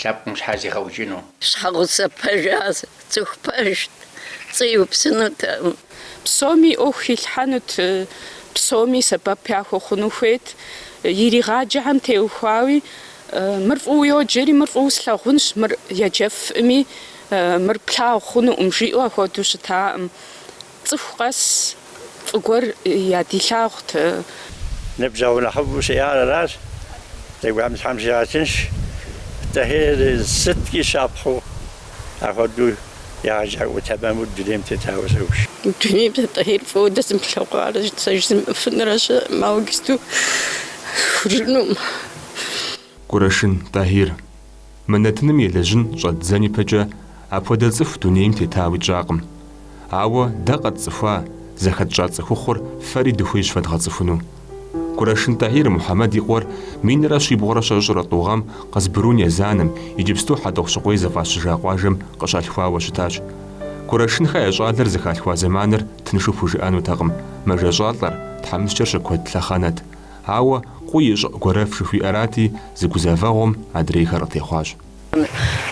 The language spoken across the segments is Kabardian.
лъэпкъым щхьэ зигъэукӏыну. Щхьэгъусэ пэжа цӏыху пэжт, пцӏы иупсынутэкъым. Псоми и ӏуэху илъхьэнут, псоми сэбэп яхуэхъуну хуейт, иригъаджэхэм теухуауи, Мыр фӏыуэ йоджэри, мыр фӏыуэ слъагъунщ, мыр еджэфӏми, мыр плъагъу хъунукъым, жиӏэу ахуэдэу щытакъым. Цӏыху къэс фӏы гуэр ядилъагъут. Ныбжьэгъу нэхъыфӏу сиӏар аращ, здэкӏуам Тхьэм щигъэтынш. Тӏэхьир сыткӏи щапхъэу апхуэдэу егъэджакӏуэ тэмэму дунейм тетауэ си гугъэщ. Дунейм сэ Тӏэхьир фӏыуэ дэзымылъэгъуарэ сэ жызымыӏыфынрэ щыӏэкъым, ауэ иджысту ухыжынукъым. Курэшын Тӏахьир. Мы нэтыным елэжьын щӏэддзэн ипэкӏэ апхуэдэ цӏыху дунейм тетауи тщӏакъым. Ауэ дэ къэтцӏыхуа, зэхэтщӏа цӏыхухъур фэри дыхуейщ фэдгъэцӏыхуну. Кӏурашын Тӏахьир Мухьэмэд и къуэр минрэ щибгъурэ щэщӏрэ тӏу гъэм Къызбрун езанэм, иджыпсту Хьэтӏохъущыкъуей зыфӏащыжа къуажэм къыщалъхуауэ щытащ. Кӏурашынхэ я щӏалэр зыхалъхуа зэманыр тыншу пхужыӏэнутэкъым, мэжэщӏалӏэр, тхьэмыщкӏэр щыкуэд лъэхъэнэт, Ауэ къуий и щӏыӏу гуэрэф жыхуиӏэрати, зы гузэвэгъуэм адрейхэр къытехъуащ.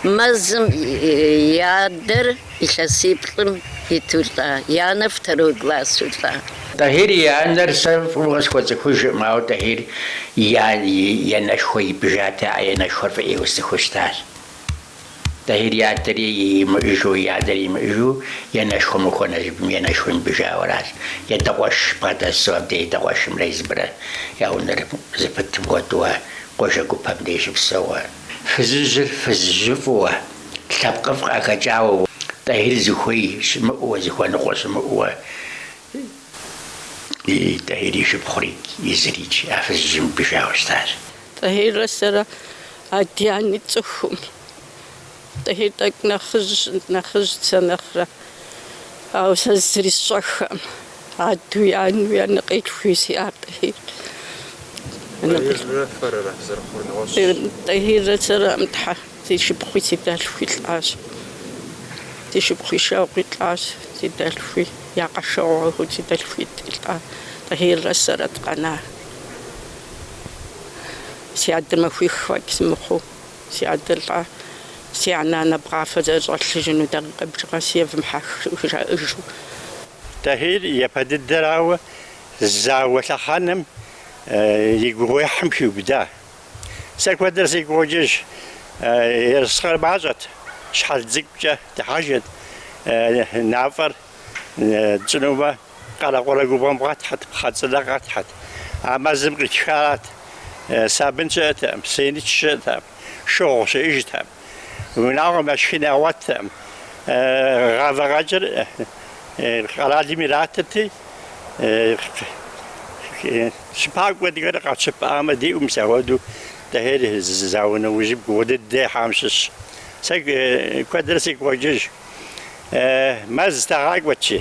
Езым и адэр илъэсиплӏым иту лӏа, и анэр второй классу лӏа. Тӏэхьир и анэр сэ фӏыуэ къысхуэцӏыхужыркъым, ауэ Тӏэхьир и анэшхуэ ипӏыжати, а анэшхуэр фӏы ӏейуэ сцӏыхуу щытащ. Тӏэхьир и адэри имыӏыжу, и анэри имыӏыжу и анэшхуэм къыхуэнэж абым, и анэшхуэм ипӏыжауэ аращ, и адэ къуэш бгъэдэсу абдеж и адэ къуэшымрэ езымрэ я унэр зыпытым хуэдэуэ къуажэ гупэм деж щыпсэууэ. Фызыжьыр фызыжьыфӏыуэ, лъэпкъыфӏ къахэкӏауэ, Тӏэхьир зыхуей щымыӏэуэ, зыхуэныкъуэ щымыӏэуэ и Тӏэхьир и шыпхъури, езырикӏ а фызыжьым ипӏыжауэ щытащ. Тӏэхьиррэ сэрэ ади ани тцӏыхукъым. Тӏэхьир тӏэкӏу нэхъыжьщ, нэхъыжьт сэ нэхърэ. Ауэ сэ зызэрысщӏэххэм, адэуи, анэуи, анэкъилъхууи сиӏар Тӏэхьир. Тӏэхьиррэ сэрэ, Тхьэ, си шыпхъуи си дэлъхуи лӏащ. Си шыпхъуи шэгъуэу лӏащ, си дэлъхуи, я къэшэгъуэу си дэлъхуитӏи лӏа Тӏэхьиррэ сэрэ дыкъэна. Си адэ махуих фӏэкӏ сымыхъуу, си адэ лӏа, си анэ анэбгъафэ зэрыщӏэлъыжыну дакъикъэ бжыгъэ си евмыхьэх, жиӏэу жаӏэжу. Тӏэхьир япэ дыдэрауэ зауэ лъэхъэнэм и гугъуехьым хиубыда. Сэ куэдрэ сигу къокӏыж, ерыскъыр мащӏэт, щхьэл цӏыкӏукӏэ дыхьэжырт, нафӏэр тщӏынумэ. Къэрэкъурэ губгъуэм къэтхьэт, пхъэ цӏынэ къэтхьэт. А мэзым къитхарат. Сабын щыӏэтэкъым, сеныч щыӏэтэкъым, шыгъу щыӏэжтэкъым. Унагъуэм яшхын ягъуэттэкъым. Гъавэ къэкӏыр къэралым иратырти, щыпакӏуэ дыкӏуэри къэтщыпамэ диӏэу мис ахуэдэу Тӏэхьир, зауэ нэужьым гугъу дыдэ ехьам щыщщ. Сэ куэдрэ сигу къокӏыж. Мэз тагъакӏуэти.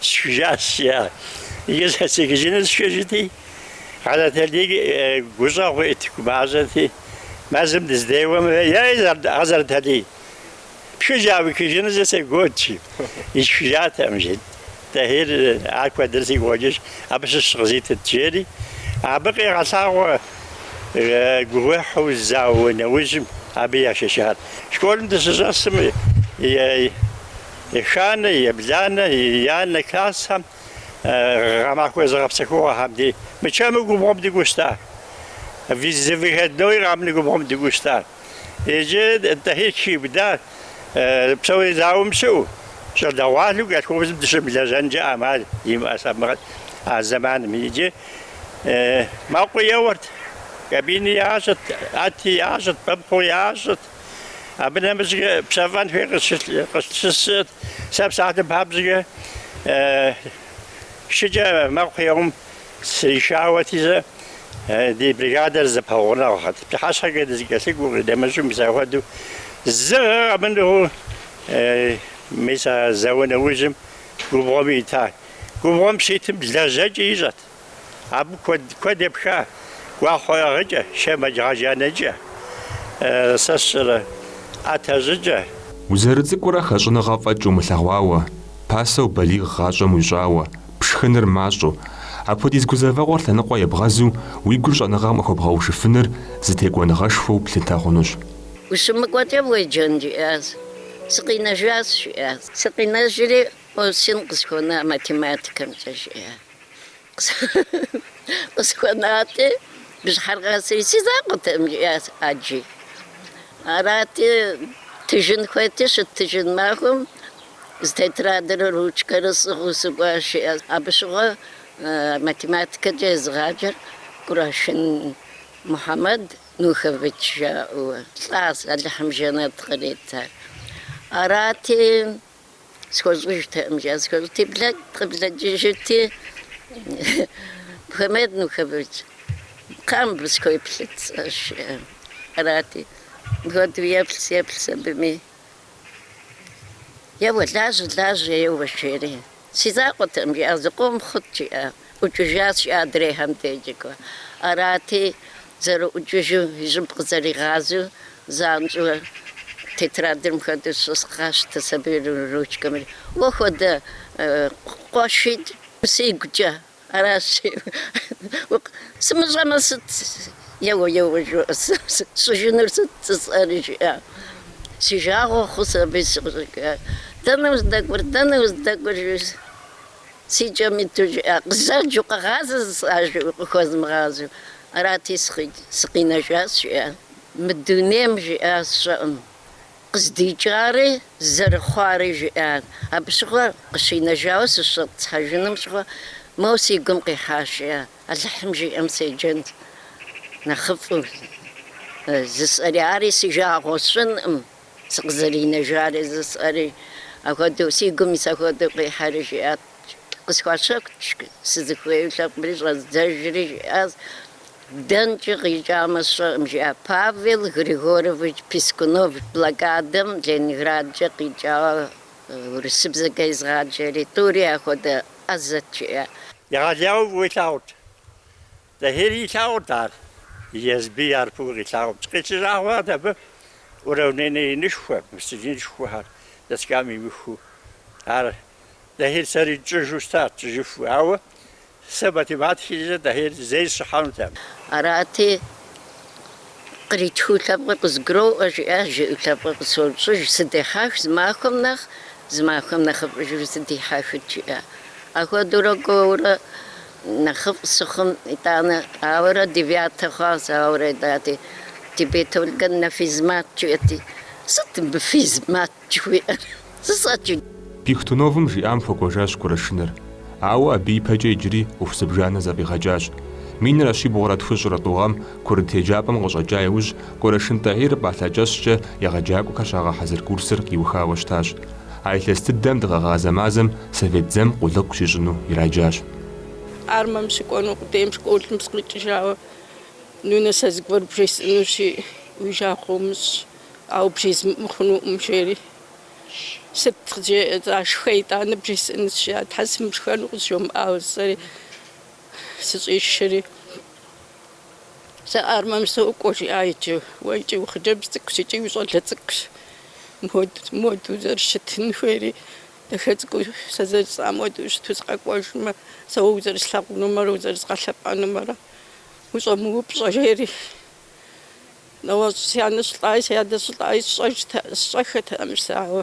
Сшыжащ, я и зэцикыжыныр сшыжти, Хьэзрэталий гущӏэгъу ит гумащӏэти, мэзым дыздеуэмэ, ей, Хьэзрэталий, пшыжьа уикыжынузи сегуэт, жи. Исшыжатэкъым, жи. Тӏэхьир, ар куэдрэ сигу къокӏыж, абы щыщ къызитыт, жери, абы къигъэлъагъуэ гугъуехьу зауэ нэужьым абы яшэчар. Школым дыщыщӏэсым, Еханэ, ебланэ, еянэ классхэм гъэмахуэ зыгъэпсэхугъуэхэм дей мычэму губгъуэм дыкӏуэу щыта. Зы выходной къэмынэу губгъуэм дыкӏуэу щыта. Иджы Тӏэхьир Чибда псори зауэм щыӏэу, щӏалэгъуалэу колхозым дыщымылэжьэнкӏэ ӏэмал имыӏэ сабмыгъэт а зэманым. Иджы мэкъуи еуэрт, кабини ящӏырт, ӏэти ящӏырт, пыпхъуи ящӏырт. Абы нэмыщӏкӏэ пщэфӏэн хуей къыслъысырт. Сэ псалъэм папщӏэкӏэ шыкӏэ мэкъу еуэм сришауэти зэ, ди бригадэр зэпэгъунэгъухэт. Пщыхьэщхьэкӏэ дызэкӏэлъыкӏуэу къыдэмыщӏу мис ахуэдэу зы гъэ къэмынэу мис а зауэ нэужьым губгъуэм ита. Губгъуэм щитым лэжьэкӏи ищӏэт. Абы куэд, куэд епха. Гуахъуэ ӏыгъыкӏэ, шэмэдж гъэжаныкӏэ, сэ сщӏэрэ, ӏэтэ щӏыкӏэ. Узэрыцӏыкӏурэ хэщӏыныгъэ фӏэкӏ умылъэгъуауэ, пасэу балигъ гъащӏэм уищӏауэ, пшхыныр мащӏэу, апхуэдиз гузэвэгъуэр лъэныкъуэ ебгъэзу уи гур щӏэныгъэм къыхуэбгъэушыфыныр зы текӏуэныгъэшхуэу плъытэ хъунущ. Ущымыкӏуэкӏэ уеджэн, жиӏащ. Сыкъинэжащ, жиӏащ. Сыкъинэжри, осень къысхуэна математикэмкӏэ, жиӏащ. Къысхуэнати, бжьыхьэр къэсри, си закъуэтэкъым, жиӏащ, ӏэджи. Арати, тыжын хуейти, щыттыжын махуэм зы тетрадэрэ ручкэрэ сӏыгъыу сыкӏуащ, жиӏащ. Абы щыгъуэ математикэкӏэ езыгъаджэр Кӏурашын Мухьэмэд Нухович жаӏэу. Лӏащ, Алыхьым жэнэт кърита. Арати. схуэщӏыжтэкъым, жиӏа, схуэщӏти, блэкӏ къыблэкӏыжырти, Мухьэмэд Нухович, кхъыӏэ, мыбы схуеплъыт, сӏащ, жиӏа. Арати, мыпхуэдэу еплъщ, еплъщ абыми, еуэ, лажьэ, лажьэ, еуэ, жери. Си закъуэтэкъым, жиӏащ, зыкъом хъут, жиӏащ. ӏукӏыжащ, жиӏа, адрейхэм дежкӏэ. Арати, зэрыӏукӏыжу и щӏыб къызэригъазэу, занщӏэу тетрадыр мыхуэдэу щызгъэщтщ аби ручкэмрэ. Уэ хуэдэ къуэшитӏ сигукӏэ аращ жиӏэу. Сымыщӏэмэ сыт? Еуэ, еуэ жыӏэ, сщӏыжынур сыт сӏэри жиӏа. Си жагъуэ хъущ аби сыкъыщӏэкӏащ. Дэнэ уздэкӏуэр, дэнэ уздэкӏуэр жи. Си кӏэм иту жиӏа, къызэджэу, къэгъазэ зысӏажэу, къыхуэзмыгъазэу. Арати, сыкъинэжащ, жиӏа. Мы дунейм, жиӏа, сщӏэкъым. Къыздикӏари, зэрыхъуари, жиӏа. Абы щыгъуэ къыщинэжауэ сыщӏэтӏысхьэжыным щыгъуэ моуэ си гум къихьащ, жиӏа. Алыхьым жиӏэм седжэнт нэхъыфӏу. Зысӏэри ари си жагъуэ сщӏынкъым. сыкъызэринэжари зысӏэри ахуэдэу си гум ис ахуэдэу къихьэри жиӏат. Къысхуащэхущ сызыхуейуэ лъэпкъри щӏэздзэжри жиӏащ. Дэнкӏэ къикӏамэ сщӏэкъым, жиӏа Павел Григорович Пискунов блокадэм Ленинградкӏэ къикӏауэ урысыбзэкӏэ езыгъаджэри, тӏури ахуэдэ ӏэзэт жиӏа. Егъэлеяуэ илъагъут. Тӏэхьири илъагъурт ар, езыби ар фӏыуэ къилъагъурт. Къилъыжа хъуат абы уравнение инышхуэ, инышхуэхэр доскам имыхуэу. Ар Тӏэхьир сэри тщӏыжу щытат, тщӏыжыфу. Ауэ сэ математикэкӏэ Тӏэхьир зэи сыщӏыхьэнутэкъым. Арати, къритхыу лъэпкъыр къызгуроӏуэ, жиӏащ, жиӏэу лъэпкъыр къысощӏыж, сыдехьэх зы махуэм нэхъ, зы махуэм нэхъыфӏыжу сыдихьэхыт, жиӏа. Ахуэдэурэ кӏуэурэ Нэхъыфӏ сыхъум итӏанэ, ауэрэ девятэ хъуащ, ауэрэ итӏати, тебе только на физмат жиӏэти, сыт мыбы физмат жыхуиӏэр, сысӏэкӏи. Пихтуновым жиӏам хуэкӏуэжащ Кӏурашыныр, ауэ абы ипэкӏэ иджыри ӏуэху зыбжанэ зэфӏигъэкӏащ. Минрэ щибгъурэ тхущӏрэ тӏу гъэм Курыт еджапӏэм къыщӏэкӏа иужь, Кӏурашын Тӏэхьир пӏалъэ кӏэщӏкӏэ егъэджакӏуэхэр щагъэхьэзыр курсыр къиухауэ щытащ. А илъэс дыдэм дыгъэгъазэ мазэм совет дзэм къулыкъу щищӏыну ираджащ. Армэм щыкӏуэну къудейм школым сыкъикӏыжауэ, нунэ сэ зыгуэр бжесӏэнущи, уи жагъуэ умыщӏ, ауэ бжезымыӏэу хъунукъым, жери. Сыт къызжеӏэ-тӏэ, шхэ итӏанэ бжесӏэнущ, жиӏа, Тхьэ сымышхэну къызжумыӏауэ, сӏэри сыщӏишри. Сэ армэм сокӏуэ, жиӏа иджы. Уэ икӏи ухъыджэбз цӏыкӏущ, икӏи ущӏалэ цӏыкӏущ. Моду узэрыщытын хуейри, дахэ цӏыкӏуу сэ зэрыжысӏам хуэдэу ущыту сыкъэкӏуэжмэ, сэ уэ узэрыслъагъунумрэ узэрызгъэлъэпӏэнумрэ ущӏэмыупщӏэ, жери. Нэгъуэщӏ си анэ щылӏаи си адэ щылӏаи сщӏэж, сщӏэххэтэкъым жысӏауэ.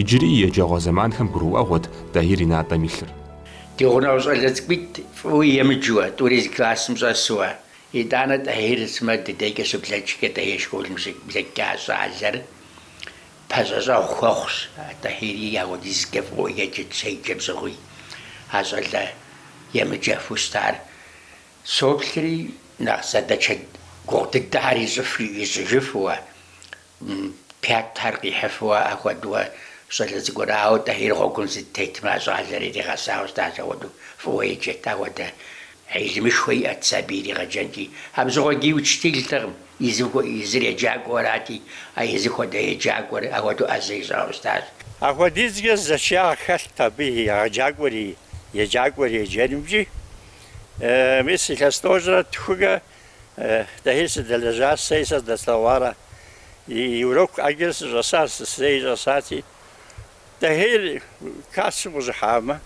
Иджыри и еджэгъуэ зэманхэм гурыӏуэгъуэт Тӏэхьир и натӏэм илъыр. Ди гъунэгъу щӏалэ цӏыкӏуитӏ фӏыуэ емыджэуэ, тӏури зы классым щӏэсуэ, итӏанэ Тӏэхьир сымэ ди дейкӏэ щыблэкӏкӏэ Тӏэхьир школым щыблэкӏкӏэ а щӏалэр пэщӏэщӏэгъу хуэхъущ. Тӏэхьири апхуэдизкӏэ фӏыуэ еджэт щеджэм щыгъуи, а щӏалэ емыджэфу щытар соплъри, нэхъ задачэ гугъу дыдэхэр ищӏыфу, ищӏыжыфууэ Пятхэр къихьыфу ахуэдуэ щӏалэ цӏыкӏур, ауэ Тӏэхьир гъуэгум здытетым, а щӏалэр иригъэсауэ щытащ, ахуэдэу фӏыуэ еджэт, ахуэдэ хьилмышхуэ иӏэт сабий иригъэджэнкӏи. Абы щыгъуэ ди учителтэкъым, езыр еджакӏуэу арати, а езы хуэдэ еджакӏуэр ахуэдэу ӏэзэ ищӏауэ щытащ. Апхуэдизкӏэ зэчиягъ хэлът абы и егъэджакӏуэри, еджакӏуэри еджэнымкӏи. Мис илъэс тӏощӏрэ тхукӏэ Тӏэхьир сыдэлэжьащ, сэри сэ здэслъэгъуар, и урокым ӏэджэрэ сыщӏэсащ, сысейми щӏэсати. Тӏэхьир классым къыщӏыхьамэ,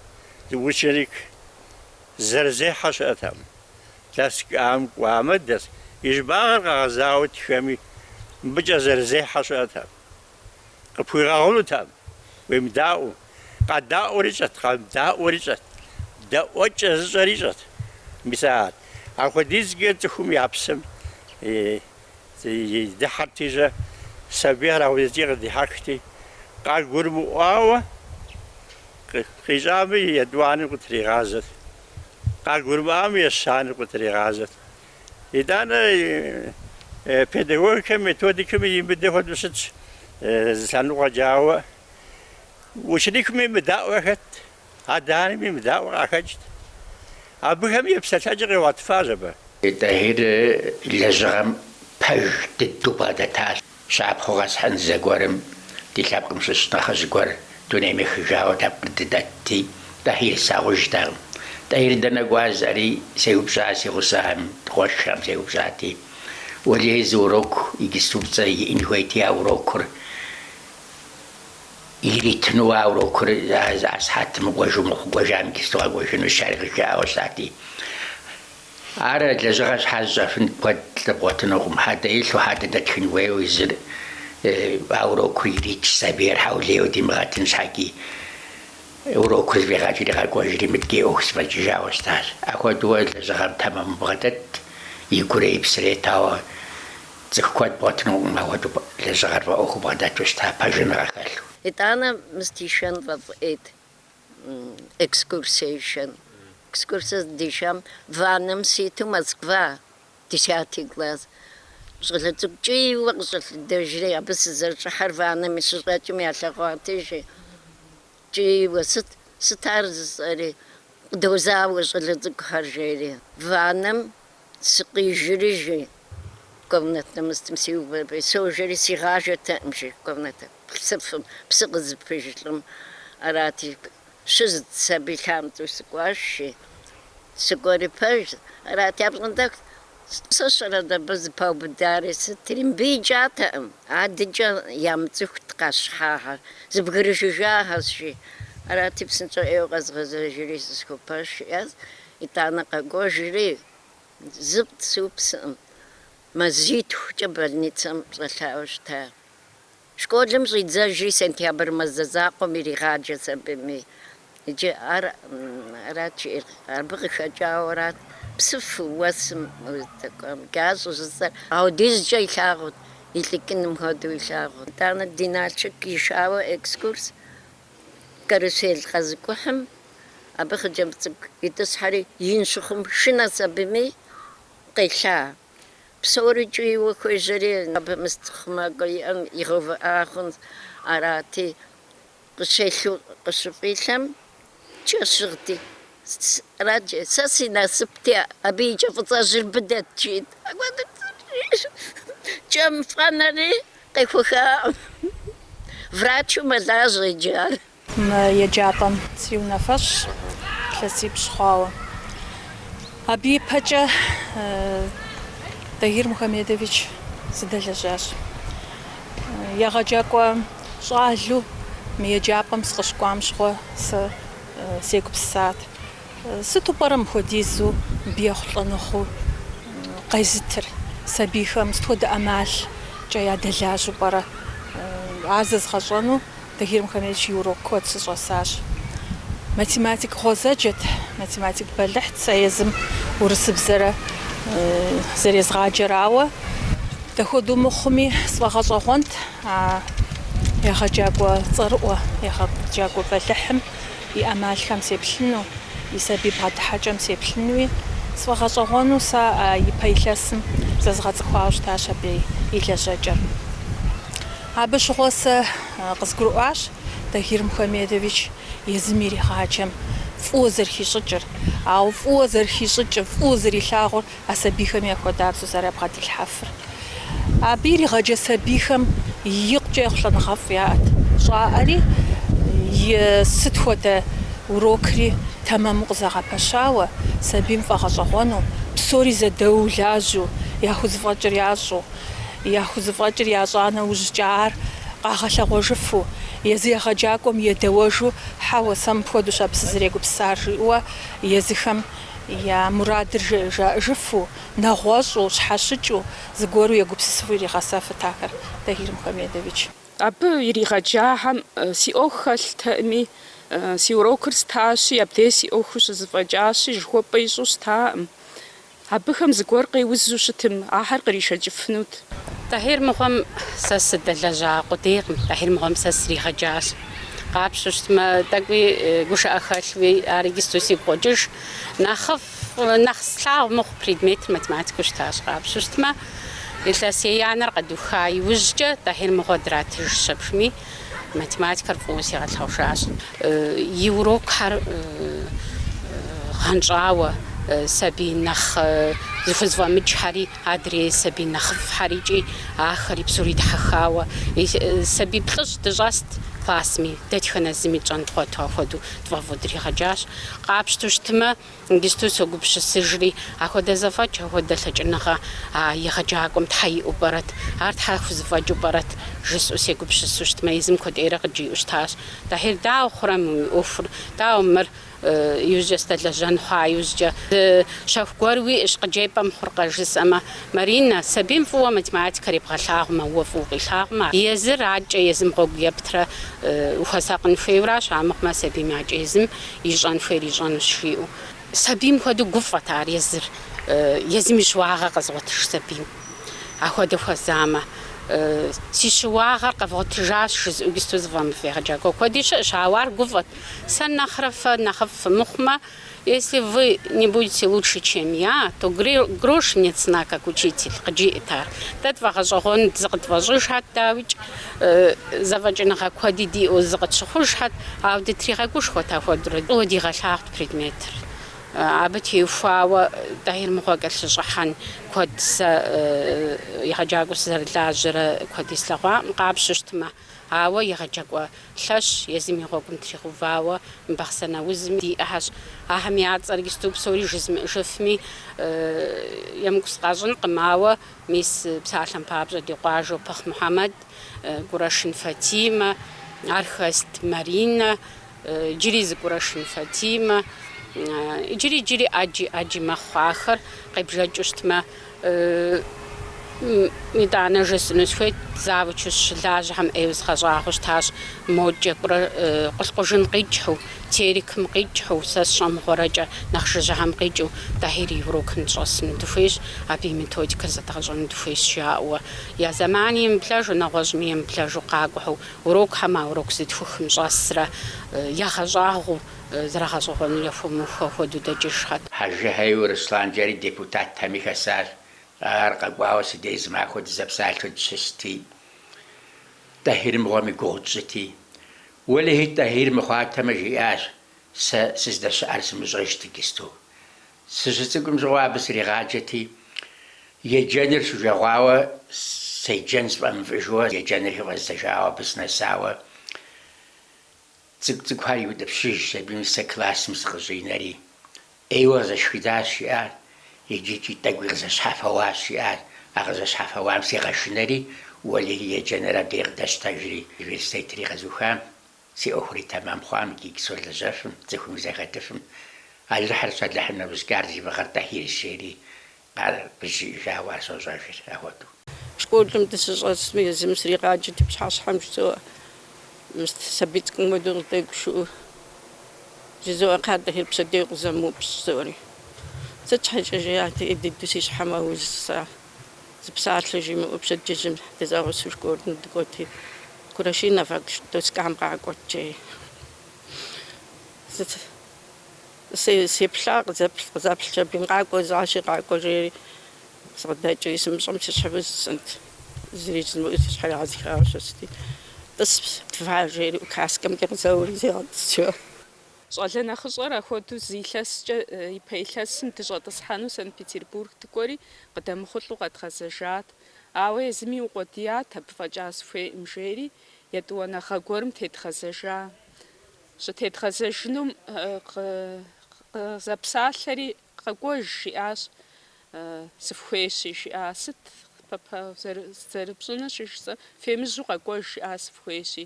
ученик зэрызехьэ щыӏэтэкъым. Доскам кӏуамэ, дэс и щӏыбагъыр къэгъэзауэ тхэми, мыбыкӏэ зэрызехьэ щыӏэтэкъым. Къыпхуигъэгъунутэкъым уемыдаӏуэу. Къэдаӏуэри ищӏэт, къэмыдаӏуэри ищӏэт. Дэӏуэкӏэ зыщӏэри ищӏэт. Мис арат. Апхуэдизкӏэ цӏыхум я псэм дыхьэрти щӏэ, сабийхэр апхуэдизкӏэ къыдихьэхти, къагурымыӏуауэ къищӏамэ, етӏуанэр къытригъазэт. Къагурымыӏуамэ, ещанэр къытригъазэт. Итӏанэ педагогикэм, методикэм имыдэ хуэдэу щытщ зы лъэныкъуэкӏэ, ауэ. Ученикми мыдаӏуэ хэт, адэ-анэми мыдаӏуэ къахэкӏт. Абыхэми епсэлъэкӏэр къигъуэтыфащ абы. Тӏэхьир лэжьыгъэм пэж дыдэу бгъэдэтащ. Щапхъэу къэсхьын зэгуэрым ди лъэпкъым щыщ нэхъыжь гуэр дунейм ехыжауэ лъэпкъыр дыдэтти, Тӏэхьир слъагъужтэкъым. Тӏэхьир дэнэ кӏуа жысӏэри? сеупщӏа си гъусэхэм, ди къуэшхэм сеупщӏати, Уэлий зы урок иджыступцӏэ иӏэн хуейти, а урокыр иритыну, а урокыр а сыхьэтым мыкӏуэжу мыхъуу кӏуэжам иджысту къэкӏуэжынущ, жаӏэри къызжаӏауэ щытати, Ар лэжьыгъэ щхьэжь щӏэфын куэд бгъуэтынукъым, хьэдэ илъу хьэдэ дэтхын хуейуэ езыр а урокур ирикӏ сабийр хьэулейуэ димыгъэтын щхьэкӏи. Урокур зэфӏигъэкӏри къэкӏуэжри мыдкӏей ӏуэху зэфӏэкӏыжауэ щытащ. Апхуэдэуэ лэжьыгъэм тэмэму бгъэдэт, и гурэ и псэрэ етауэ цӏыху куэд бгъуэтынукъым апхуэдэу лэжьыгъэр фӏэӏуэхуу бгъэдэту щыта, пэжыныгъэ хэлъу. Итӏанэ мыст ишэн фӏэфӏ ӏейт. экскурсие ишэн экскурсие здишам ваннэм ситу москва десятый класс щӏалэ цӏыкӏу кӏийуэ къыщӏэлъэдэжри абы сызэрыщӏыхьэр ваннэми щыщӏэкӏым ялъэгъуат жи кӏийуэ сыт сыт ар жысӏэри къыдозауэ щӏалэ цӏыкӏухэр жери ваннэм Сыкъижри, жи, комнатнэ мыстым сиувэщ, сожэри, сигъажэтэкъым, жи, комнат псыфым, псы къызыпыж лӏым. Арати, щызыдзщ аби лъамцӏэу сыкӏуащ, жи. Сыкӏуэри пэжт. Арати, апщӏондэху сыщӏэрэт абы зыпаубыдари, сытримбиджатэкъым. Адэкӏэ ямыцӏыхут къащхьагъэр, зэбгрыжыжахэщ, жи. Арати, псынщӏэу ӏейуэ къэзгъэзэжри, зысхуэпащ, жи. Итӏанэ къэкӏуэжри, зы пцыупсым, мазитхукӏэ больницэм щӏэлъауэ щыта. Школым щӏидзэжри, сентябрь мазэ закъуэм иригъаджэщ абыми. Иджы ар арат жиӏэр, абы къыхэкӏауэрат псыфу уэсым уздэкӏуам щӏыжысӏэр. Аудизкӏэ илъагъут, илӏыкӏыным хуэдэу илъагъут. Итӏанэ ди Налшык ишауэ экскурс Карусел къэзыкӏухьым абы хъыджэбз цӏыкӏу итӏысхьэри, ин щыхъум шынэщ абыми къелъа. Псори кӏийуэ хуежьэри, абы мыст хъумакӏуэ иӏэм игъэувыӏа хъунщ. Арати, къыщелъу къыщыфӏилъэм, кӏэ щыгъти, Сраджэ, сэ си насыпти, абы и кӏэ фӏыцӏэжьыр быдэт, жиӏэт. Кӏэм фӏэнэри къехуэхакъым. Врачу мэлажьэ иджы ар. Мы еджапӏэм си унафэщӏщ илъэсипщӏ хъуауэ. Абы и пэкӏэ Тагир Мухамедович сыдэлэжьащ. Егъэджакӏуэ щӏалэу мы еджапӏэм сыкъыщыкӏуам щыгъуэ сэ сегупсысат, сыту пӏэрэ мыхуэдизу абы ехъулӏэныгъэ къезытыр, сабийхэм сыт хуэдэ ӏэмалкӏэ ядэлажьэу пӏэрэ? Ар зэзгъэщӏэну Тагир Мухамедович и урок куэд сыщӏэсащ. Математик гъуэзэджэт, математик бэлыхьт сэ езым урысыбзэра зэрезгъаджэр, ауэ дапхуэдэу мыхъуми, сфӏэгъэщӏэгъуэнт А егъэджакӏуэ цӏэрыӏуэ, егъэджакӏуэ бэлыхьым и ӏэмалхэм сеплъыну, и сабий бгъэдыхьэкӏэм сеплъынуи, сфӏэгъэщӏэгъуэну сэ ипэ илъэсым зэзгъэцӏыхуауэ щытащ абы и лэжьэкӏэр. Абы щыгъуэ сэ къызгурыӏуащ Тагир Мухамедович езым иригъаджэм фӏыуэ зэрыхищӏыкӏыр, ауэ фӏыуэ зэрыхищӏыкӏыр, фӏыуэ зэрилъагъур. А сабийхэм яхуэдабзэу зэрабгъэдилъхьэфыр. Абы иригъэджэ сабийхэм икъукӏэ ехъулӏэныгъэфӏ яӏэт, щӏаӏэри сыт хуэдэ урокри тэмэму къызэгъэпэщауэ, сабийм фӏэгъэщӏэгъуэну, псори зэдэуу лажьэу, яхузэфӏэкӏыр ящӏу, яхузэфӏэкӏыр ящӏа нэужькӏэ ар къагъэлъэгъуэжыфу, езы егъэджакӏуэм едэуэжу, хьэуэ, сэ мыпхуэдэущ абы сызэрегупсысар, жиӏэуэ езыхэм я мурадыр жаӏэжыфу, нэгъуэщӏу, щхьэщыкӏыу, зыгуэру егупсысыфу иригъэсэфырт ахэр Тагир Мухамедович. Абы иригъэджахэм си ӏуэху хэлътэкъыми, си урокыр стащи, абдей си ӏуэху щызэфӏэкӏащи, жыхуэпӏэ ищӏу щытакъым. Абыхэм зыгуэр къеузу щытым, ахэр къришэкӏыфынут. Тӏэхьир мыгъуэм сэ сыдэлэжьа къудейкъым, Тӏэхьир мыгъуэм сэ сригъэджащ. Къапщтэу щытмэ, тӏэкӏуи гушыӏэ хэлъуи, ар иджысту сигу къокӏыж. Нэхъыфӏ, нэхъ слъагъу мыхъу предметыр математикэу щытащ. Къапщтэу щытмэ, илъэс еянэр къэдуха иужькӏэ Тӏэхьир мыгъуэ дратыж щэпшми, математикэр фӏыуэ сигъэлъэгъужащ. И урокхэр гъэнщӏауэ, сабий нэхъ зыхузэфӏэмыкӏхэри Адрей сабий нэхъыфӏхьэри икӏи ахэри псори дихьэхауэ сабий плӏыщӏ дыщӏэст классми, дэтхэнэ зыми тщӏэн дгъуэту ахуэдэу тфӏэфӏу дригъэджащ. Къапщтэу щытмэ, иджысту согупщысыжри, ахуэдэ зэфӏэкӏ, ахуэдэ лъэкӏыныгъэ а егъэджакӏуэм щхьэ иӏэу пӏэрэт, ар щхьэ хузэфӏэкӏыу пӏэрэт? жысӏэу сегупщысу щытмэ, езым куэдӏейрэ къыджиӏэу щытащ, Тӏэхьир, дауэ хъурэ мы уи ӏуэхур, дауэ мыр? Иужькӏэ сдэлэжьэн хъуа иужькӏэ, зы щэху гуэр уиӏэщ, къыджепӏэм хъуркъэ, жысӏэмэ. Маринэ, сабийм фӏыуэ математикэр ебгъэлъагъумэ, уэ фӏыуэ укъилъагъумэ, езыр акӏэ, езым гъуэгу ептрэ ухуэсакъын хуейуэращ, амыхъумэ, сабийм акӏэ езым ищӏэн хуейр ищӏэнущ, жиӏэу. Сабийм хуэдэу гуфӏэт ар езыр, езым и щыуагъэр къэзыгъуэтыж сабийм. Ахуэдэ хуэзамэ, си щыуагъэр къэвгъуэтыжащ, жызыӏэу иджысту зыфӏэмыфӏ егъэджакӏуэ куэди щыӏэщ, ауэ ар гуфӏэт. Сэ нэхърэ фэ нэхъыфӏ фымыхъумэ, если вы не будете лучше, чем я, то грош мне цена как учитель, къыджиӏэт ар. Дэ тфӏэгъэщӏэгъуэнт зыкъытфӏэщӏыжхьэт, дауикӏ, зэфӏэкӏыныгъэ куэди диӏэу зыкъытщыхъужхьэт, ауэ дытригъэгушхуэт ахуэдурэ. Фӏыуэ дигъэлъагъут предметыр. Абы теухуауэ Тӏэхьир мыгъуэ кӏэлъыщӏыхьэн куэд сэ егъэджакӏуэу сызэрылажьэрэ куэди слъэгъуакъым, къапщтэу щытмэ. Ауэ егъэджакӏуэ лъэщ езым и гъуэгум тригъэувауэ мы Бахъсэн аузми диӏэхьэщ. Ахэм я цӏэр иджысту псори жызмыӏыжыфми, емыкӏу сыкъащӏынкъым, ауэ мис псалъэм папщӏэ ди къуажэу Пыхъ Мухьэмэд, Кӏурашын Фатимэ, Архэст Маринэ, Иджыри зы Кӏурашын Фатимэ, иджыри, иджыри ӏэджи, ӏэджи мэхъу ахэр, къебжэкӏыу щытмэ, итӏанэ жысӏэну схуейт, завучу сыщылажьэхэм ӏейуэ згъэщӏагъуэу щытащ, модкӏэ кӏуэрэ Къулъкъужын къикӏхьу, Терекым къикӏхьу, сэ сщӏэмыгъуэрэкӏэ нэхъ жыжьэхэм къикӏыу, Тӏэхьир и урокым дыщӏэсыну дыхуейщ, абы и методикэр зэдгъэщӏэну дыхуейщ жаӏэуэ, я зэмани емыблэжу, нэгъуэщӏми емыблэжу къакӏухьу Урокхэм а урок зытхухым щӏэсрэ ягъэщӏагъуэу зэрагъэщӏэгъуэну яхуэмыух хуэдэу дэкӏыжхьэт. Хьэжыхьейуэ Руслан жери депутатхэми хэсащ. Ар къэкӏуауэ си деж зы махуэ дызэпсалъэу дыщысти, Тӏэхьир мыгъуэм и гугъу тщӏыти, Уэлэхьи, Тӏэхьир мыхъуатэмэ, жиӏащ, сэ сыздэщыӏэр сымыщӏэжт иджысту. Сыщыцӏыкӏум щыгъуэ абы сригъаджэти, еджэныр сужэгъуауэ, седжэн сфӏэмыфӏыжу еджэныр хыфӏэздзэжауэ абы сынэсауэ, цӏыкӏу-цӏыкӏухэр иутӏыпщыжщ, аби мис сэ классым сыкъыщӏинэри, ӏейуэ къызэшхыдащ, жиӏат, иджыкӏи тӏэкӏуи къызэщхьэфэуащ, жиӏат, а къызэщхьэфэуам сигъэшынэри, уэлэхьи, еджэныр абдей къыдэщтэжри, университетри къэзухам. Си ӏуэхури тэмэм хъуам икӏи солэжьэфым, цӏыхум сахэтыфым, Алыхьырщ, Алыхьым нэужькӏэ ар зи фӏыгъэр Тӏэхьирщ жери къызжиӏэжауэ ар сощӏэжыр ахуэдэу. Школым дыщыщӏэсми, езым сригъаджэти пщыхьэщхьэм жызоӏэ, мис сабий цӏыкӏум хуэдэу къыддэгушыӏэу, жызоӏэ Кхъа Тӏэхьир пщэдей укъызэмыупщӏ, жызоӏэри. Сыт щхьэкӏэ жиӏати, дыдэу си щхьэр мэуз жысӏа. Зы псалъэ жимыӏэу пщэдджыжьым дызэгъусэу школым дыкӏуэти, Курашиновэ, доскам къакӏуэт, жи, сеплъа къызэплъ, къызэплъщ аби къакӏуэ, защи къакӏуэ жери сыкъыдэкӏри, сымыщӏэм си щхьэ узу жысӏэнт. Зыри жызмыӏэу си щхьэр егъэзыхауэ сыщытти, тӏыс, тва жери указкэмкӏэ къызэури сигъэтӏысыжа. Щӏалэ нэхъыщӏэр ахуэдэу зы илъэскӏэ и пэ илъэсым дыщӏэтӏысхьэну Санкт-Петербург дыкӏуэри къыдэмыхъулӏэу къэдгъэзэжат. Ауэ езыми укъуэдият, абы фӏэкӏа сыхуейӏым, жери етӏуанэгъэ гуэрым тедгъэзэжа. Щытедгъэзэжынум къызэпсалъэри, Къэкӏуэж, жиӏащ, сыфхуейщи, жиӏа. Сыт, папа, зэрыпщӏынур щыжысӏэм? Фемыжьу къэкӏуэж, жиӏа, сыфхуейщи.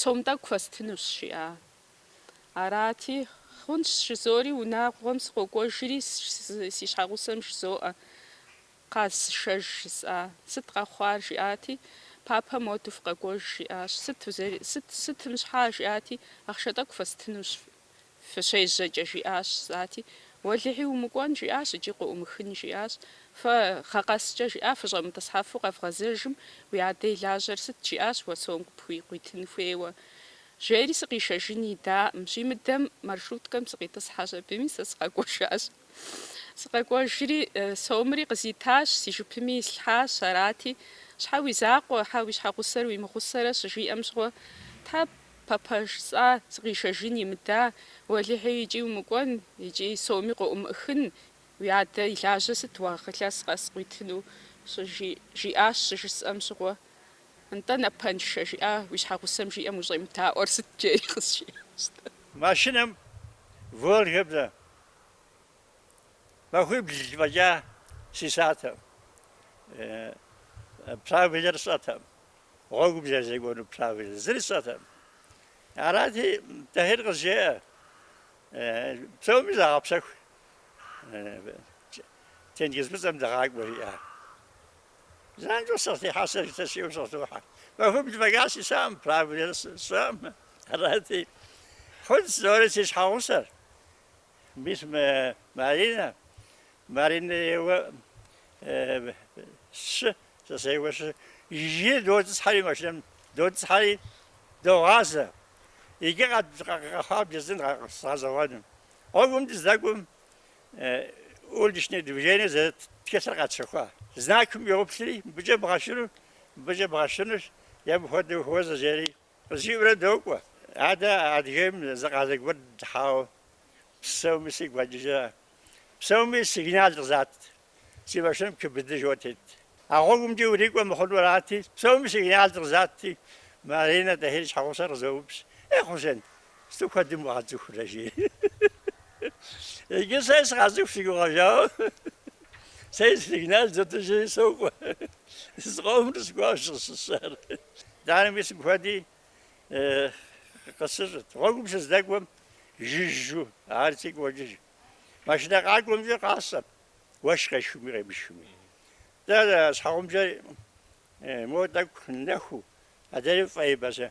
Сом тӏэкӏу фэстынущ, жиӏа. Арати, хъунщ, жызори, унагъуэм сыкъокӏуэжри, си щхьэгъусэм жызоӏэ, Къаз, сышэж, жысӏа, сыт къэхъуар, жиӏати, Папэ моду фыкъэкӏуэж, жиӏащ. Сыт, сытым щхьа, жиӏати, ахъшэ тӏэкӏу фэстынущ, Фыщежьэкӏэ жиӏащ, жысӏати, Уэлэхьи, умыкӏуэн, жиӏащ икӏи къыӏумыхын, жиӏащ. Фэ гъэ къэскӏэ жиӏа, фыщӏэмытӏысхьэфу къэвгъэзэжым, уи адэ и лажьэр сыт? жиӏащ уэ сом къыпхуи къуитын хуейуэ. Жери сыкъишэжын идаӏым. Щимыдэм маршруткэм сыкъитӏысхьащ абыми, сэ сыкъэкӏуэжащ. Сыкъэкӏуэжри, сомри къызитащ, си жыпми ислъхьащ, арати, Щхьэ уи закъуэ, щхьэ уи щхьэгъусэр уимыгъусэрэ щыжиӏэм щыгъуэ, Тхьэ Папэ, жысӏа, сыкъишэжын имыда, уэлэхьи икӏи умыкӏуэн, икӏи соми къыӏумыӏыхын, уи адэ и лажьэ сыт уэ илъэс къэс къуитыну? щыжи жиӏащ, щыжысӏэм щыгъуэ, Нтӏэ, напэншэ, жиӏа, уи щхьэгъусэм жиӏэм ущӏемыдаӏуэр сыт жери къызжиӏащ-тӏэ. Машинэм Волгэ блэ махуибл фӏэкӏа сисатэм, правилэр сщӏэтэм, Гъуэгум зэрызекӏуэну правилэр зыри сщӏэтэкъым. Арати, Тӏэхьир къызжеӏэ, Псоми загъэпсэху, тенгыз фӏыцӏэм дыгъакӏуэ, жиӏа. Занщӏэу сыкъытехьа сэ жытыр сиӏэу сыкъытохьэ. Махуибл фӏэкӏа сисакъым, правилэр сщӏэкъым. Арати, хъунщ, жызори си щхьэгъусэр. Мис мы Маринэ, Маринэ еуэ сщы, сэ сеуэ щы, жыжьи дотӏысхьэри машинэм дотӏысхьэри догъазэ. Иджы къэхъуар бжесӏэн гъэщӏэгъуэну. Гъуэгум дыздэкӏуэм уличное движение зэрыт тхылъыр къэтщэхуа знакым йоплъри, мыбыкӏэ бгъэшыну, мыбыкӏэ бгъэшынущ, е мыпхуэдэу хуэзэ жери. Къызжиӏэурэ докӏуэ. Адэ Адыгейм зы къалэ гуэр дыхьауэ псэуми сигу къэкӏыжа. Псэуми сигнал къызат. Си машинэм КБД жиӏэу тет. А гъуэгумкӏэ урикӏуэ мыхъуну арати, псэуми сигнал къызати, Маринэ Тӏэхьир и щхьэгъусэр къызоупщӏ. Е, Хъусен, Сыту куэдым укъацӏыхурэ, жи. Иджы сэ сыкъацӏыху си гугъэжауэ. Сэ сигнал зытыжи сокӏуэ. Зыкъомрэ сыкӏуауэ щысщӏар. Итӏанэ мис мыхуэди къысыщӏырт. Гъуэгум сыздэкӏуэм жыжьу, ар сигу къокӏыж. Машинэ къакӏуэмкӏэ къасщӏэ, уэшх къешхыми къемышхыми. Дэ щхьэгъубжэр мо тӏэкӏу нэхуу, адрейр фӏейбзэу.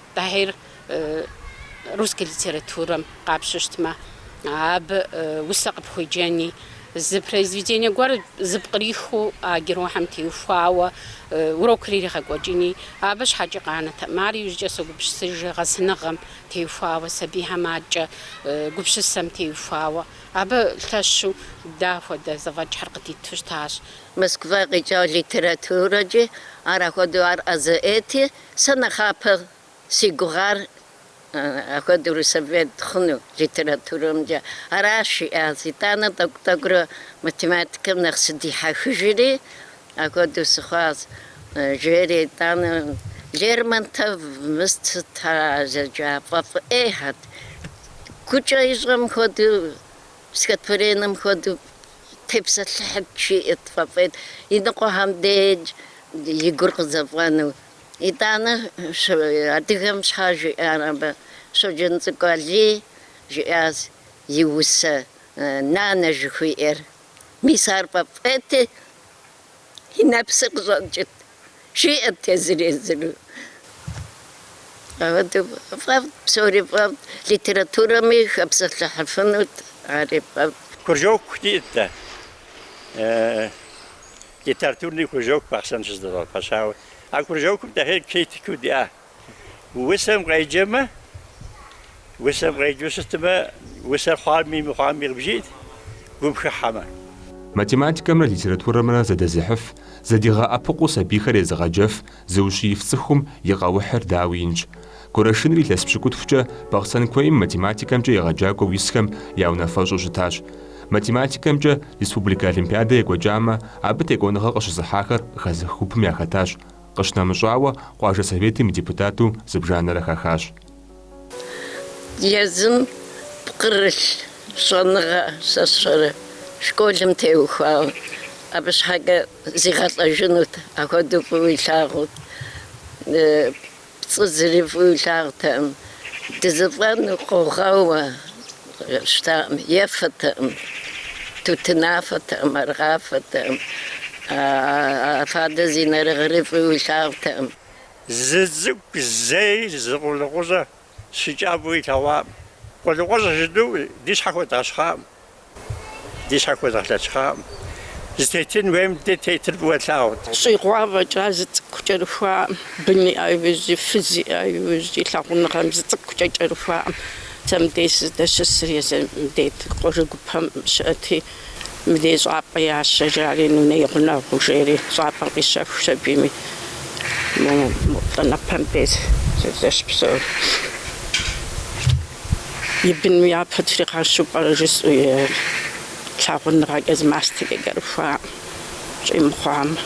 Тӏахьир русской литературэм къапщыщтмэ, абы усэ къыпхуеджэни, зы произведение гуэр зыпкърихыу а герохэм теухуауэ урокыр иригъэкӏуэкӏыни, абы щхьэкӏи къанэтэкъым. Ар иужькӏэ согупсысыжи, гъэсыныгъэм теухуауэ, сабийхэм адэкӏэ гупсысэм теухуауэ. Абы лъэщу дэ ахуэдэ зэфӏэкӏхэр къыдиту щытащ. Москва къикӏа литературэкӏи ар ахуэдэу ар ӏэзэ ӏейти, Сэ нэхъапэ си гугъар ахуэдэурэ совет хъуну литературэмкӏэ аращ жиӏащ. Итӏанэ тӏэкӏу-тӏэкӏурэ математикэм нэхъ сыдихьэхыжри, ахуэдэу сыхъуащ, жери итӏанэ Лермонтов мыст сыт ар а зэджа фӏэфӏ ӏейхьэт. Гукӏэ ищӏэм хуэдэу Стихотворенэм хуэдэу тепсэлъыхьыт, жиӏэрт. Фӏэфӏ ӏейт, и ныкъуэхэм деж и гур къызэфӏэну. Итӏанэ адыгэм щхьэ жиӏар абы? Щоджэнцӏыкӏу Алий жиӏащ и усэ нанэ жыхуиӏэр. Мис ар фӏэфӏ ӏейти, и нэпсыр къыщӏэкӏырт, жиӏэрт езыр-езыру. Ахуэдэу фӏэфӏт, псори фӏэфӏт, литературэми хэпсэлъыхьыфынут, ари фӏэфӏт. Кружок диӏэт дэ, литературный кружок Бахъсэн щызэдгъэпэщауэ. А кружокым Тӏахьир критикыу диӏа. Усэм къеджэмэ, усэм къеджэу щытмэ, усэр хъуами мыхъуами къыбжиӏэт, гум хыхьэмэ. Математикэмрэ литературэмрэ зэдэзыхьыф, зэдигъэӏэпыкъуу сабийхэр езыгъэджэф зыущииф цӏыхум и къэухьыр дауи инщ. Горэшыныр илъэс пщыкӏутхукӏэ Бахъсэн куейм математикэмкӏэ егъэджакӏуэу исхэм я унафэщӏу щытащ. Математикэмкӏэ республикэ олимпиадэ екӏуэкӏамэ, абы текӏуэныгъэ къыщызыхьахэр хэзых гупым яхэтащ Къыщынэмыщӏауэ, къуажэ советым и депутату зыбжанэрэ хахащ. Езым пкърылъ щӏэныгъэ сэ сщӏэрэ школым теухуауэ, абы щхьэкӏэ зигъэлӏэжынут, ахуэдэу фӏыуэ илъагъут. Пцӏы зыри фӏыуэ илъагъутэкъым. Дызэфӏэну къэхъуауэ, Щытакъым, ефэтэкъым, тутынафэтэкъым, аргъафэтэкъым, фадэ зи нэрыгъыри фӏыуэ илъагъутэкъым. Зы цӏыкӏу зэи зы къулыкъущӏэ щыкӏабэу илъэгъуакъым. Къулыкъущӏэ жытӏэу ди щхьэ хуэдгъэщхъакъым, ди щхьэ хуэдгъэлъэхъшакъым. Зытетын хуейм дэ тетыр фӏыуэ тлъагъут. Щӏигъуа фӏэкӏа зы цӏыкӏу кӏэрыхуакъым, бын иӏа иужьи, фыз иӏа иужьи, лъагъуныгъэм зы цӏыкӏукӏэ кӏэрыхуакъым. Сэ мыбдеж сыздэщысыр езы дет къуажэ гупэм щыӏэти, мыбдеж щӏапӏэ ящэ, жари, нунэ и гъунэгъуу, жери, щӏапӏэм къищэхуащ абыми. Нтӏэ нобэ мыдеж сыздыщыпсэур. И быным япэ дригъэщу пӏэрэ жысӏэу и лъагъуныгъэкӏэ зы мастэкӏэ кӏэрыхуакъым, щӏимыхъуамэ.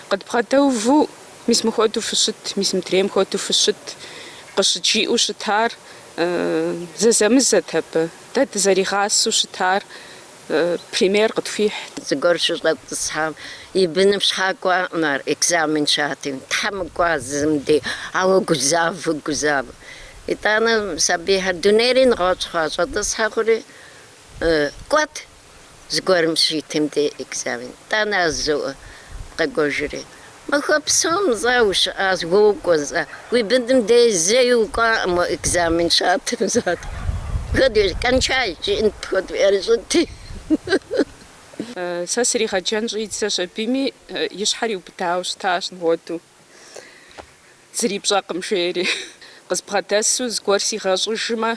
Къыдбгъэдэуву, мис мыхуэдэу фыщыт, мис мыдрейм хуэдэу фыщыт, къыщыджиӏэу щытар Зэзэмызэт абы. Дэ дызэригъасэу щытар пример къытхуихь. Зыгуэр щыщӏэтӏысхьам и быным щхьа кӏуакъым ар, экзамен щатым. Тхьэ мыкӏуа зым де, ауэ гузавэ, гузавэ. Итӏанэ сабийхэр дунейри нэгъуэщӏ хъуа, щӏэтӏысхьэ хъури, кӏуэт, зыгуэрым щитым де экзамен тӏанэ зыу къэкӏуэжри. Махуэ псом зэ ущыӏащ, уокӏуэ зэ, уи быным дей зэи укӏуакъым уэ экзамен щатым зат. Куэд кончай, жиӏэнт куэд уерыщӏыти. Сэ сригъэджэн щӏидзащ, абыми и щхьэр иубыдауэ щытащ мыхуэдэу, зыри пщӏэкъым жери. Къызбгъэдэсу зыгуэр сигъэщӏыжмэ,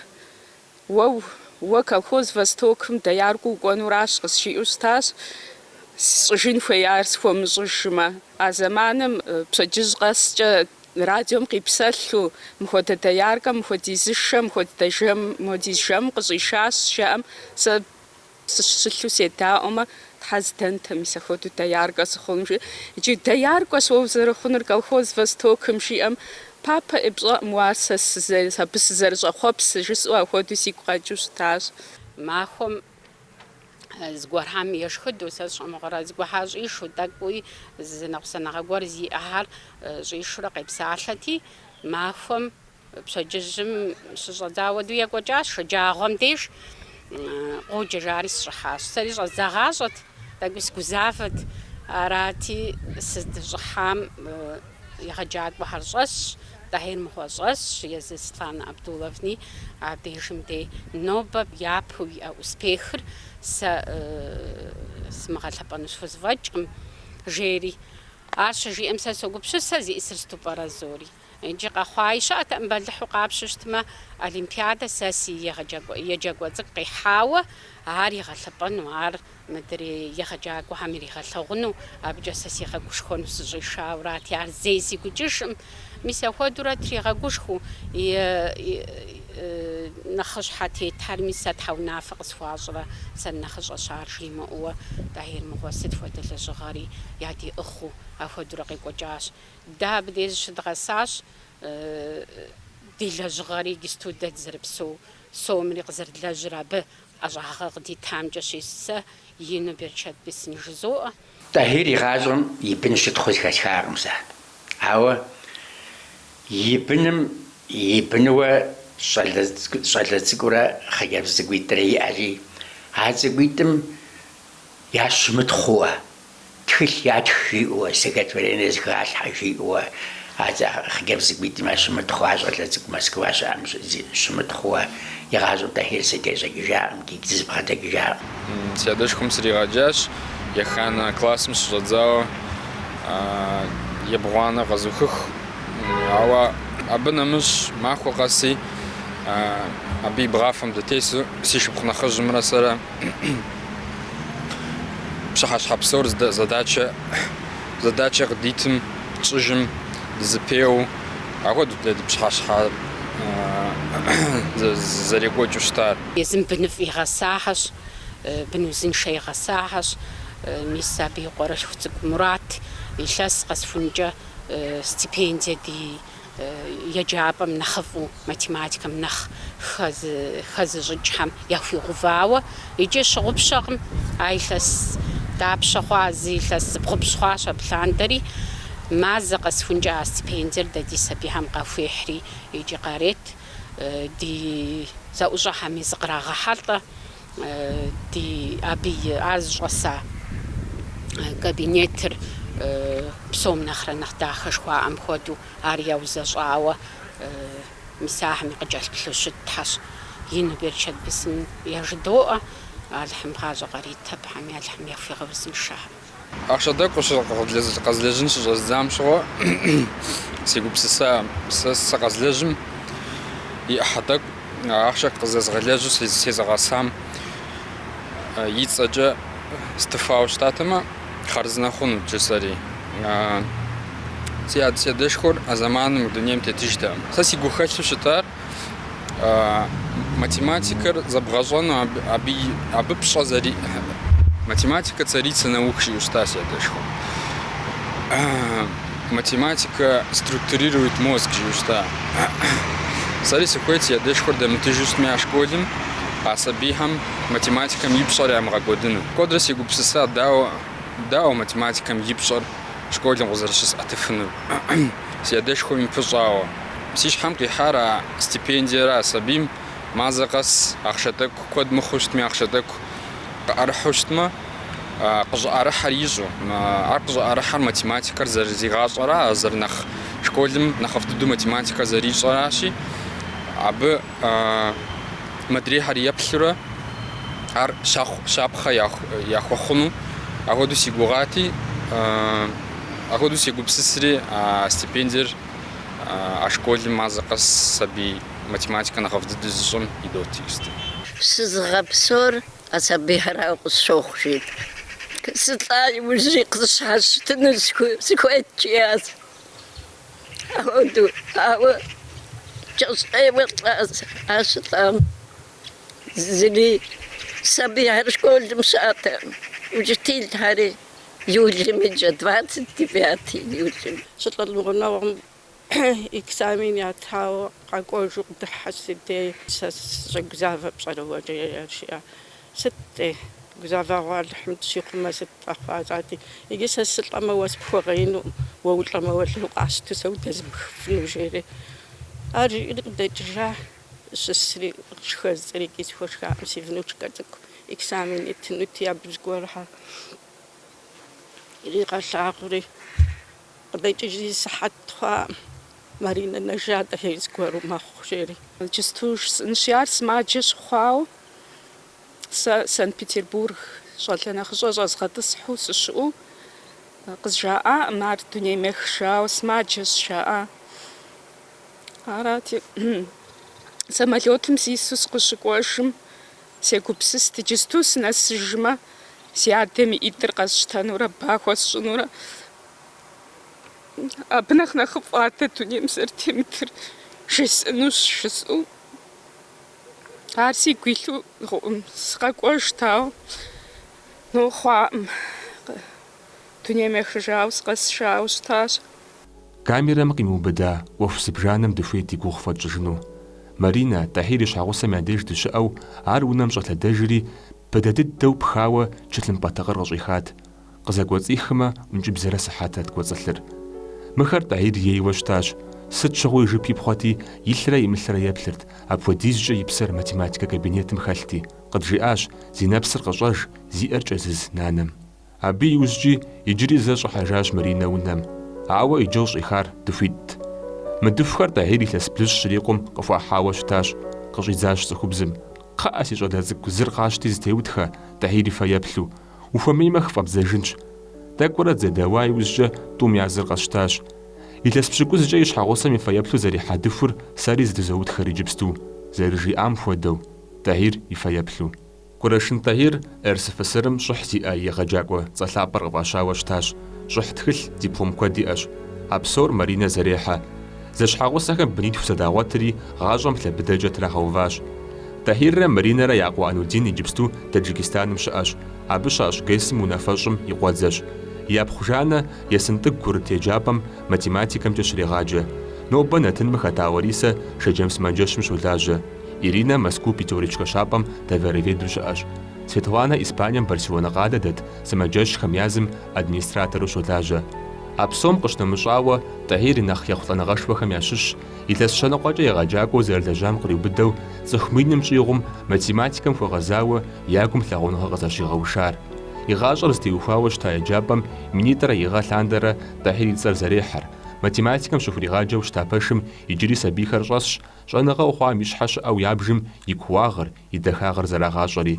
Уэ, уэ колхоз Востокым дояркэу укӏуэнуращ, къызжиӏэу щытащ, сщӏыжын хуеяр схуэмыщӏыжмэ. А зэманым пщэдджыжь къэскӏэ радиом къипсэлъу, мыхуэдэ дояркэм мыхуэдиз шэ, мыхуэдэ жэм, мыхуэдиз жэм къыщӏишащ, жаӏэм, сэ Сыщылъу седаӏуэмэ, Тхьэ здэнтэ, мис ахуэдэу дояркэ сыхъун, жи. Иджы дояркэщ уэ узэрыхъунур колхоз Востокым жиӏэм папэ, пщӏэкъым уэ ар сэ сызэ, абы сызэрыщӏэхъуэпсыр, жысӏэу ахуэдэу сигу къэкӏыу щытащ. Махуэм зыгуэрхьэм ешхыдэу сэ сщӏэ мыгъуэрэ, зыгуэхьа щӏишэу, тӏэкӏуи зы ныкъусаныгъэ гуэр зиӏэхэр щӏишурэ къепсалъэти, махуэм Пщэдджыжьым щыщӏэдзауэ ду екӏуэкӏащ, шэджагъуэм деж къоджэ жари сыщӏыхьащ. Сэри щӏэздзагъащӏэт, тӏэкӏуи сгузавэт. Арати, сыздыщӏыхьам егъэджакӏуэхэр щӏэсщ, Тӏэхьир мыгъуэ щӏэсщ, езы Светланэ Абдуловни а дежым де нобэ япэу иӏэ успехыр сэ сымыгъэлъэпӏэну схузэфӏэкӏкъым, жери. Ар щыжиӏэм сэ согупсысэ, зиӏысыр сыту пӏэрэ зори? Иджы къэхъуаи щыӏэтэкъым бэлыхьу къапщтэу щытмэ, олимпиадэ сэ си еджакӏуэ цӏыкӏу къихьауэ ар игъэлъэпӏэну, ар мыдрей егъэджакӏуэхэм иригъэлъэгъуну, абыкӏэ сэ сигъэгушхуэну сыщӏишауэрати, ар зэи сигу икӏыжкъым. Мис апхуэдэурэ тригъэгушхуэу, нэхъыщхьэ тетарми сэ щхьэ унафэ къысхуащӏрэ, сэ нэхъыщӏэщ ар жимыӏэуэ, Тӏэхьир мыгъуэ сыт хуэдэ лэжьыгъэри ядиӏыгъыу апхуэдэурэ къекӏуэкӏащ. Дэ абдеж щыдгъэсащ ди лэжьыгъэри, иджыпсту дэ дызэрыпсэу сомри къызэрыдлэжьыр абы ӏэщӏагъэ къыдитамкӏэщи, сэ, ину берычэт бесын жызоӏэ. Тӏэхьир игъащӏэм и бын щытхъуу зыхэсхакъым сэ, ауэ и быным и бынуэ щӏалэ цӏыкӏурэ хъыджэбз цӏыкӏуитӏрэ иӏэри, а цӏыкӏуитӏым ящымытхъууэ. Тхылъ ятх жиӏэуэ, стихотворение зыхалъхьэ жиӏэуэ а хъыджэбз цӏыкӏуитӏым ящымытхъууэ щӏалэ цӏыкӏу Москва щыӏэм щымытхъууэ игъащӏэу Тӏэхьир сыкъежьэжакъым, икӏи дызэбгъэдэкӏыжакъым. Си адэшхуэм сригъэджащ, еханэ классым щыщӏэдзауэ ебгъуанэ къэзухыху, ауэ абы нэмыщӏ махуэ къэси абы и бгъафэм дытесу си шыпхъу нэхъыжьымрэ сэрэ пщыхьэщхьэ псор задачэ къыдитым, тщӏыжым, дызыпеуэу, ахуэдэт дэ ди пщыхьэщхьэ зэрекӏуэкӏыу щытар. Езым быныфӏ игъэсахьэщ, бын узыншэ игъэсахьэщ. Мис абы и къуэрылъху цӏыкӏу Мурат илъэс къэсхункӏэ стипендие ди еджапӏэм нэхъыфӏу, математикэм нэхъ хэзыщӏыкӏхэм яхуигъэувауэ, икӏи щыгъупщэкъым, а илъэс дапщэ хъуа, зы илъэс зыбгъупщӏ хъуащ абы лъандэри, мазэ къэсхункӏэ а стипендиер дэ ди сабийхэм къахуехьри икӏи къарет, ди зэӏущӏэхэми зыкърагъэхьэлӏэ. ди абы и, ар зыщӏэса кабинетыр псом нэхърэ нэхъ дахэ жыхуаӏэм хуэдэу, ар яузэщӏауэ мис ахэм и къыкӏэлъыплъу щытхэщ, ину берычэт бесын яжыдоӏэ, Алыхьым гъащӏэ къарит, абыхэми Алыхьым яхуигъэузыншэхэ. Ахъшэ тӏэкӏу къэзлэжьын щыщӏэздзам щыгъуэ сегупсысат, сэ къэзлэжьым и ӏыхьэ тӏэкӏу ахъшэ къызэзгъэлэжьу сезыгъэсам и цӏэкӏэ стыфауэ щытатэмэ, хъарзынэ хъунут, жысӏэри. Си адэшхуэр а зэманым мы дунейм тетыжтэкъым. Сэ си гухэлъу щытар математикэр зэбгъэщӏэну абы, абы пщӏэ зэри... Математикэ царицэ наук жиӏущта си адэшхуэ. Математикэ структурирует мозг жиӏущта. Сэри сыхуейт си адэшхуэр дэмытыжу щытми а школым, а сабийхэм математикэм и пщӏэр ямыгъэкӏуэдыну. Куэдрэ сегупсысат, дауэ, дауэ математикэм и пщӏэр школым къызэрыщысӏэтыфынур. си адэшхуэм и пыщӏауэ. Си щхьэм къихьар а стипендиерэ а сабийм мазэ къэс ахъшэ тӏэкӏу, куэд мыхъуу щытми ахъшэ тӏэкӏу, къыӏэрыхьу щытмэ, къыщӏыӏэрыхьэр ищӏу. Ар къыщӏыӏэрыхьэр математикэр зэрызигъащӏэра, зэрынэхъ школым нэхъыфӏ дыдэу математикэр зэрищӏэращи, абы модрейхэр еплъурэ ар щапхъэ яхуэхъуну, апхуэдэу си гугъати. Апхуэдэу сегупсысри, а стипендиер а школым мазэ къэс сабий математикэ нэхъыфӏ дыдэу зыщӏэм идот. Сызыгъэпсэур а сабийхэрауэ къысщохъу, жиӏэт. Сылӏа иужьри къысщхьэщытыну сыхуейт, жиӏащ. Апхуэдэу, ауэ кӏэщӏ ӏейуэ лӏащ. Ар щылӏам зыри сабийхэр школым щыӏэтэкъым, учителхэри. июлым и кӏэ, двадцать девятый июлым. Щылӏэм и гъунэгъум экзамен ятауэ къэкӏуэжу къыдыхьащ си дей. Сэ сыщӏэгузавэр пщӏэрэ уэ, жеӏэ, жиӏэ. Сыт-тӏи, гузавэгъуэ Алыхьым дыщихъумэ, сыт къэхъуа, жысӏати. Иджы сэ сылӏэмэ, уэ сыпхуэгъеинукъым, уэ улӏэмэ, уэлэхьи укъэсщту сэ удэзмыхыфыну, жери. Ар жиӏэри къыдэкӏыжащ. щысри, шхэ жысӏэри иджы схуэшхакъым, си внучкэ цӏыкӏу экзамен итынути, абы зыгуэрхьэр иригъэлъагъури, къыдэкӏыжри сыхьэт хъуакъым, Маринэ нэжат ӏэхей зыгуэру мэхъу, жери. Иджысту жысӏэнщи, ар сымаджэ щыхъуауэ, сэ Санкт-Петербург щӏалэ нэхъыщӏэ щӏэзгъэтӏысхьу сыщыӏэу къызжаӏакъым, ар дунейм ехыжауэ сымаджэщ жаӏа. Арати, самолетым сису сыкъыщыкӏуэжым, сегупсыст, иджысту сынэсыжмэ, си адэм и ӏитӏыр къэсщтэнурэ ба хуэсщӏынурэ. Абы нэхъ нэхъыфӏ адэ дунейм зэрытемытыр жесӏэнущ, жысӏэу. Ар сигу илъу гъуэгум, сыкъэкӏуэжт, ауэ но хъуакъым. Дунейм ехыжауэ сыкъэсыжауэ щытащ. Камерэм къимыубыда ӏуэху зыбжанэм дыхуейт и гугъу фхуэтщӏыжыну. Маринэ, Тӏэхьир и щхьэгъусэм я деж дыщыӏэу, ар унэм щӏэлъэдэжри, быдэ дыдэу пхауэ тхылъымпӏэ тыкъыр къыщӏихат. Къызэкӏуэцӏихымэ, ӏункӏыбзэрэ сыхьэтрэт кӏуэцӏылъыр. Мыхэр Тӏэхьир ейуэ щытащ. Сыт щыгъуи жып ипхъуэти, илърэ имылърэ еплъырт, апхуэдизкӏэ и псэр математикэ кабинетым хэлъти, къыджиӏащ, зи нэпсыр къыщӏэж, зи ӏэр кӏэзыз нанэм. Абы иужькӏи иджыри зэ щӏыхьэжащ Маринэ унэм, ауэ иджы къыщӏихар дыхуитӏт. Мы дыхухэр Тӏэхьир илъэс блыщӏ щрикъум къыхуахьауэ щытащ, къыщӏидзащ цӏыхубзым, Кхъыӏэ, си щӏалэ цӏыкӏу, зыр къащти зытеутхэ, Тӏэхьир и фэеплъу, ухуэмеймэ хыфӏэбдзэжынщ. Тӏэкӏурэ дызэдэуа иужькӏэ тӏум я зыр къэсщтащ. Илъэс пщыкӏузкӏэ и щхьэгъусэм и фэеплъу зэрихьа дыхур сэри зытызоутхэр иджыпсту, зэрыжиӏам хуэдэу, Тӏэхьир и фэеплъу. Курэшын Тӏэхьир РСФСР-м щӏыхь зиӏэ егъэджакӏуэ цӏэ лъапӏэр къыфӏащауэ щытащ, щӏыхь тхылъ, диплом куэд иӏэщ. А псор Маринэ зэрехьэ. Зэщхьэгъусэхэм бынитху зэдагъуэтри, гъащӏэм лъэ быдэкӏэ трагъэуващ. Тӏэхьиррэ Маринэрэ я къуэ Анудин иджыпсту Таджикистаным щыӏэщ, абы щащӏ ГЭС-м унафэщӏым и къуэдзэщ. Я пхъу Жаннэ Есынтӏыгу курыт еджапӏэм математикэмкӏэ щрегъаджэ. Нобэ нэтыным хэта Ларисэ Шэджэм сымаджэщым щолажьэ. Иринэ Мэзкуу Пятерочкэ щапӏэм товароведу щыӏэщ. Светланэ Испанием Барселонэ къалэ дэт сымаджэщхэм язым администратору щолажьэ. А псом къыщынэмыщӏауэ, Тӏэхьир и нэхъ ехъулӏэныгъэшхуэхэм ящыщщ, илъэс щэныкъуэкӏэ егъэджакӏуэу зэрылэжьам къриубыдэу цӏыху миным щӏигъум математикэм хуэгъэзауэ я гум лъагъуныгъэ къызэщигъэушар. И гъащӏэр зытеухуауэ щыта еджапӏэм минитӏрэ и гъэ лъандэрэ Тӏэхьир и цӏэр зэрехьэр, математикэм щыхуригъаджэу щыта пэшым иджыри сабийхэр щӏэсщ, Щӏэныгъэу хъуам и щхьэ щыӏэу ябжым и кууагъыр, и дахагъыр зэрагъащӏэри.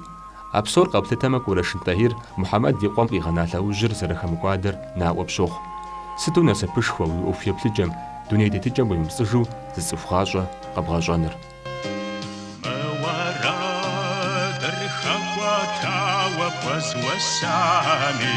А псор къэплъытэмэ Курэшын Тӏэхьир Мухьэмэд и къуэм къигъэна лъэужьыр зэрыхэмыкӏуадэр наӏуэ пщохъу. Сыту насыпышхуэ уи ӏуэху еплъыкӏэм, дуней тетыкӏэм уемыпцӏыжу зы цӏыху гъащӏэ къэбгъэщӏэныр. Мы уэрэдыр хэкӏуэтауэ къэзусами.